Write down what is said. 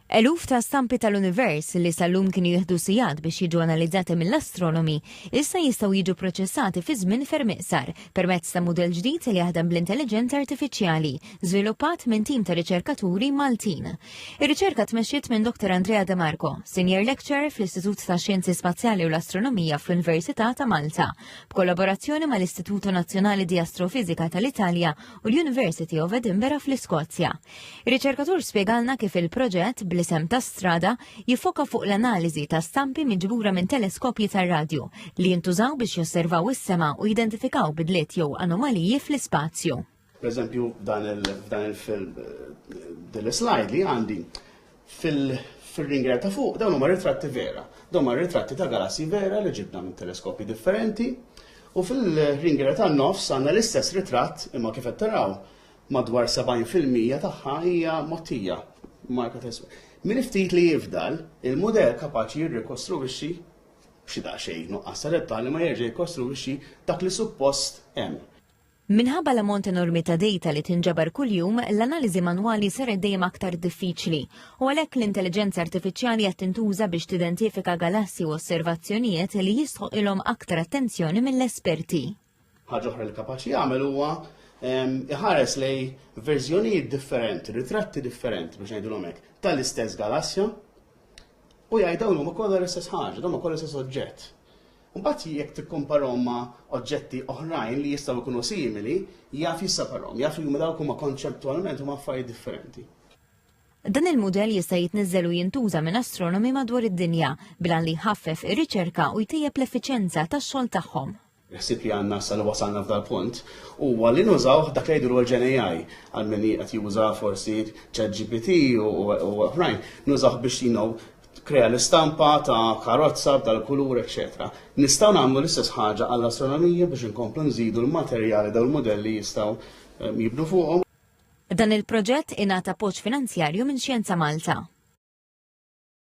Eluf ta' stampi tal-univers li sal-lum kienu jieħdu sigħat biex jiġu analizzati mill-astronomi, issa jistgħu jiġu proċessati fi żmien ferm iqsar permezz ta' mudell ġdid li jaħdem bl-intelliġenza artifiċjali, żviluppat minn tim ta' riċerkaturi Maltin. Ir-riċerka tmexxiet minn Dr. Andrea De Marco, Senior Lecturer fl-Istitut ta' Xjenzi Spazjali u l-Astronomija fl-Università ta' Malta, b'kollaborazzjoni mal-Istituto Nazzjonali di Astrofizika tal-Italja u l-University of Edinburgh fl-Iskozja. Riċerkatur spjegalna kif il-proġett bl-isem ta' strada jiffoka fuq l-analiżi ta' stampi miġbura minn teleskopji tar-radju li jintużaw biex josservaw is-sema u jidentifikaw bidliet jew anomaliji fl-ispazju. Per eżempju, f'dan il-film eh, din is-slide li għandi fil-ringer ta' fuq dawn huma ritratti vera. Dawn huma ritratti ta' galassi vera li ġibna minn teleskopji differenti u fil-ringer ta' nofs għandna l-istess ritratt imma kif qed taraw madwar 70 fil-mija tagħha hija mottija marka ta' Min ftit li jifdal, il-mudell kapaċi jirrikostruwixxi b'xi daqsxejn nuqqas ta' dettali ma jerġa' jikkostruwixxi dak li suppost hemm. Minħabba l-ammont enormi ta' dejta li tinġabar kuljum, l-analiżi manwali saret dejjem aktar diffiċli, u għalhekk l-intelliġenza artifiċjali qed tintuża biex tidentifika galassi u osservazzjonijiet li jistħoqqilhom aktar attenzjoni mill-esperti. Ħaġa oħra li kapaċi jagħmel huwa ehm, iħares lej verżjonijiet differenti, ritratti differenti biex ngħidulhom hekk, tal-istess galassja u jgħid dawn huma kollha l-istess ħaġa, dawn huma kollha l-istess oġġett. Mbagħad jekk tikkomparhom ma' oġġetti oħrajn li jistgħu jkunu simili, jaf jissaparhom, jaf li huma dawk huma konċettwalment huma affarijiet differenti. Dan il-mudell jista' jitniżżel u jintuża minn astronomi madwar id-dinja bla li jħaffef ir-riċerka u jtejjeb l-effiċenza tax-xogħol tagħhom. Il-ħsieb li għandna issa li wasalna f'dal-punt huwa li nużawh dak li jgħidulu l-GenAI għal min qed juża forsi ChatGPT u oħrajn, nużawh biex you know, krea l-istampa ta' karozza b'dal-kulur, eċċetera. Nistgħu nagħmlu l-istess ħaġa għall-astronomija biex inkomplu nżidu l-materjali dawn il-mudelli jistgħu ehm, jibnu fuqhom. Dan il-proġett ingħata appoġġ finanzjarju minn Xjenza Malta.